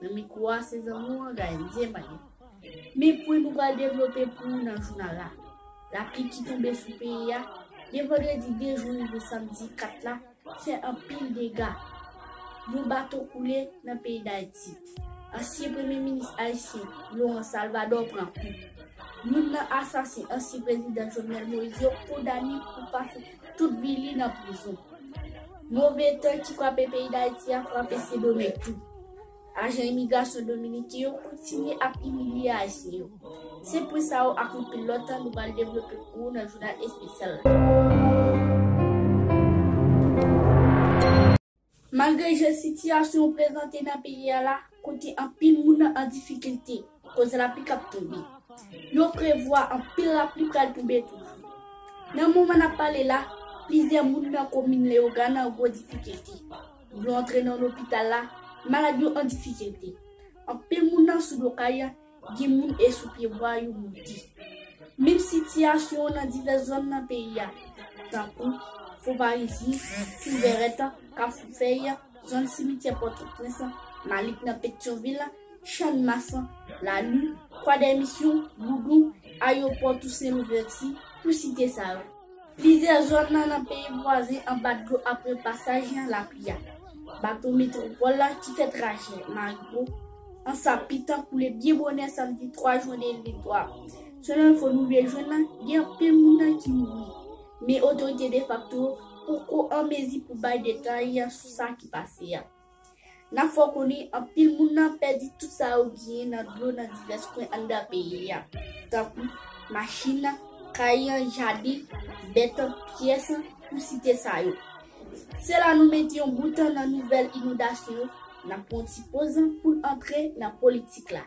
Nan mikro a se zanmi w anga endyen pa gen men pwen nou pral devlope pou ou nan jounal la lapli ki tonbe sou peyi a de vandredi 2 jou rive samdi 4 la fè anpil dega yon bato koule nan peyi dayiti ansyen premye minis ayisyen Laurent Salvador pran kou youn nan asasen ansyen prezidan Jovenel Moïse yo kondane pou pa Tout vi li nan prizon. Move tan ki frape peyi Dayiti a frape Sendomeng tou. Ajan imigrasyon dominiken yo kontinye ap imilye ayisyen yo. Se pwen sa yo ak anpil lòt nou pral devlope pou ou nan jounal espesyal la. Malgre jan sitiyasyon prezante nan peyi a la, kote anpil moun an difikilte koz lapli k ap tonbe, yo prevwa anpil lapli pral tonbe toujou. Nan moman n ap pale la, plizyè moun nan komin Leyogàn an gwo difikilte. Dlo antre nan lopital la, malad yo an difikilte. Anpil moun nan sou do kay, Gen moun e sou pye bwa yo mouri. Menm sitiyasyon nan divès zòn nan peyi a, tankou, Fonparizye, Tou Vèrèt, Kafou Fèy, zòn simityè Pòtoprens, Malik nan Petyonvil, Channmas, Lalu, Kwadèmisyon, Boudon, Ayopò Tousen Louvèti, pou site sa yo. Plizyè zòn nan peyi vwazen anba dlo apre pasaj yon lapli a. Bato Metwopòl la ki fè trajè Magbo, Ansa Pitan koule byen bonè samdi 3 jwen 2023. Selon enfo nou rive jwenn nan, gen anpil moun nan ki mouri, men otorite defakto yo poko an mezi pou bay detay sou sa ki pase a. Nap fè w konnen anpil moun nan pèdi tout sa yo genyen nan dlo nan divès kwen anndan peyi a, tankou, machin, kay, jaden, bèt, pyès, pou site sa yo. Se la nou mete yon bout nan nouvèl inondasyon yo, nap pran yon ti poz pou n antre nan politik la.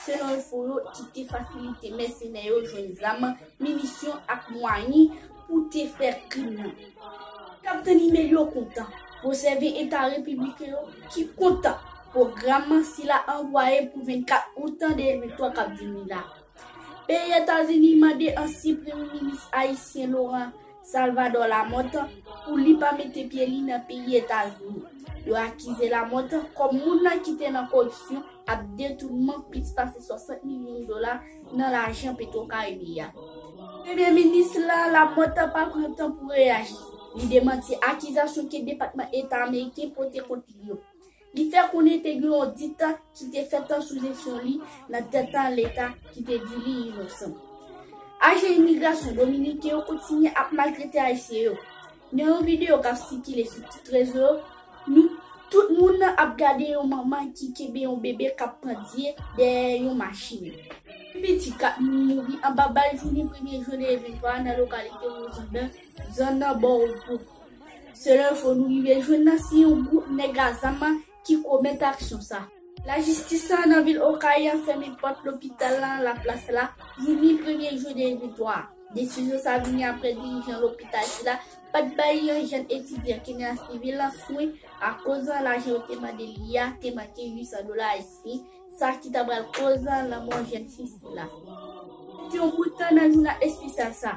Selon enfo yo, ki te fasilite mèsenè yo jwenn zam, minisyon ak mwayen pou te fè krim nan. Kaptenn Imel yo kontan pou sèvi eta repibliken yo ki kontan pwogram sila anvwaye pou 24 out 2003 kap vini la. Peyi Etazini mande ansyen premye minis ayisyen Laurent Salvador Lamothe pou li pa mete pye li nan peyi Etazini. Yo akize Lamothe kòm moun nan ki te nan koripsyon ap detounman plis pase 60 milyon dola nan lajan PetroCaribe a. Premye minis la, Lamothe, pa pran tan pou reyaji. Li demanti akizasyon ke Depatman Eta Ameriken pote kont li yo. Li fè konnen te gen yon dikta ki te fèt an sou jesyon li nan detan leta ki te di li inosan. Ajan imigrasyon dominiken yo kontinye ap maltrete ayisyen yo. Nan yon videyo k ap sikile sou tout rezo yo, nou tout moun nan ap gade yon manman ki kenbe yon bebe k ap pandye dèyè yon machin. Pi piti 4 moun mouri anba bal jounen premye jen 2023 a nan lokalite Wozonbè, zòn nan Bò Repos. Selon enfo nou rive jwenn nan se yon gwoup nèg a zam ki komèt aksyon sa. Lajistis la nan vil Okay an fèmen pòt lopital la La Place la jouni premye jwe 2023 a. Desizyon sa vini aprè dirijan lopital sila pat bay yon jèn etidyan Kenya sivil lan swen akoz lajan yo te mande li a te manke 800 dola ayisyen sa ki ta pral koz lanmò jèn fi sila. Depi yon bout tan nan jounal espesyal sa.